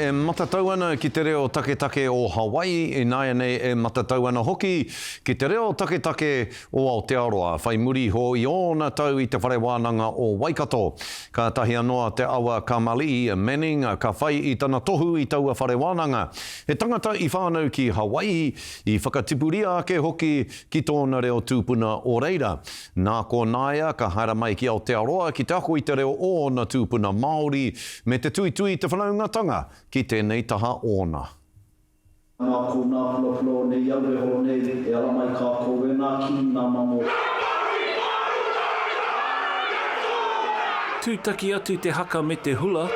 E matatau ana ki te reo taketake o Hawaii, ināianei e matatau ana hoki ki te reo taketake o Aotearoa. Whai muri iho i ōna tau i te Whare Wānanga o Waikato, kātahi anō a Te Awa Kamali'i Manning ka whai i tana tohu i taua whare wānanga. He tangata i whānau ki Hawaii, i whakatipuria ake hoki ki tōna reo tūpuna o reira. Nā konā ia ka haere mai ki Aotearoa ki te ako i te reo o ōna tūpuna Māori me te tuitui i te whanaungatanga ki tēnei taha ōna. Nā konā pulapula o nei aue horo nei e ala mai kākou e ngā kī, ngā mamo. Tūtaki atu te haka me te hula.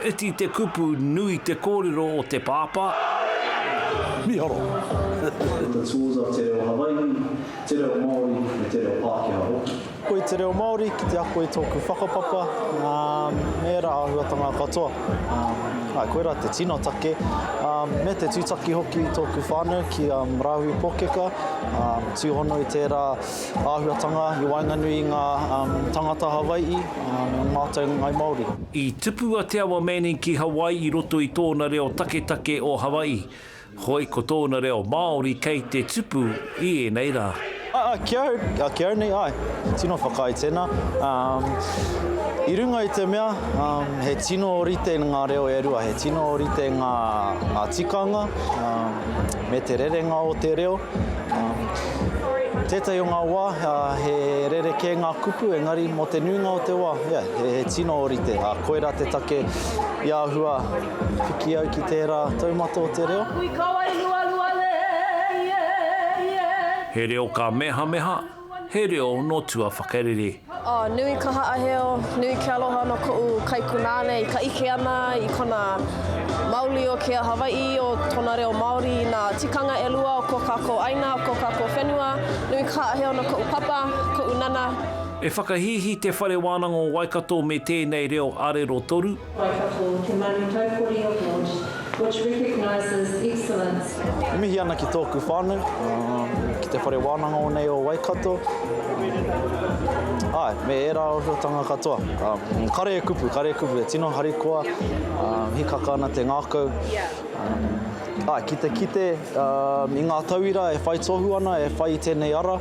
Iti te kupu, nui te kōrero o te pāpā. Miharo. Ko te tools a te reo Hawai'i. Te reo Māori me te reo Pākehā hoki. Koi te reo Māori ki te ako i tōku whakapapa me ērā āhuatanga katoa. Āe, koirā te tino take me te tūtaki hoki i tōku whānau ki a Marahui Pōkeka, tūhono i tērā āhuatanga i waenganui i ngā tāngata Hawai'i me ō mātou Ngāi Māori. I tupu a Te Awa Manning ki Hawaii i roto i tōna reo taketake o Hawaii. Hoi ko tōna reo Māori kei te tupu i ēnei rā. Aa, ki au, ki au nei, ae, he tino whakaae tena. Um, i runga i te mea, um, he tino orite nga reo e rua, he tino orite nga, nga tikanga, um, me te rerenga o te reo. Um, tētahi o nga wa, uh, he rerekē nga kupu, engari mo te nuinga o te wa, yeah, he, he tino orite. Uh, koira te take i ahua, Piki au ki tērā taumata o te reo. He reo ka mehameha, he reo no tua whakarere. Oh, nui ka haaheo, nui ke aloha no koʻu kaikunāne i ka ike ana i kona mauli o kia Hawaiʻi o tona reo Maori i na tikanga elua o ko kakou aina, o ko kakou whenua, nui ka haaheo no koʻu papa, koʻu nana. E whakahīhī Te Whare Wānanga o Waikato me tēnei reo arero toru. Waiwhato, te manu taupori award, which recognises excellence. E mihi ana ki tōku whānau, ki te whare wānanga o nei o Waikato, āe, me ērā ōhiotanga katoa. Kare e kupu, kare e kupu, e tino harikoa, hīkaka ana te ngākau. Āe, ki te kite i ngā tauira e whai tohu ana, e whai i tēnei ara,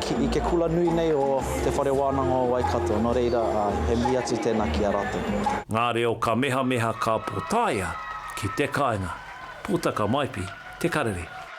I te kula nui nei o Te Whare Wānanga o Waikato, nō reira, he mihi atu tēnā ki a rātou. Ngā reo kamehameha ka potaia ki te kāinga. Putaka Maipi, Te Karere.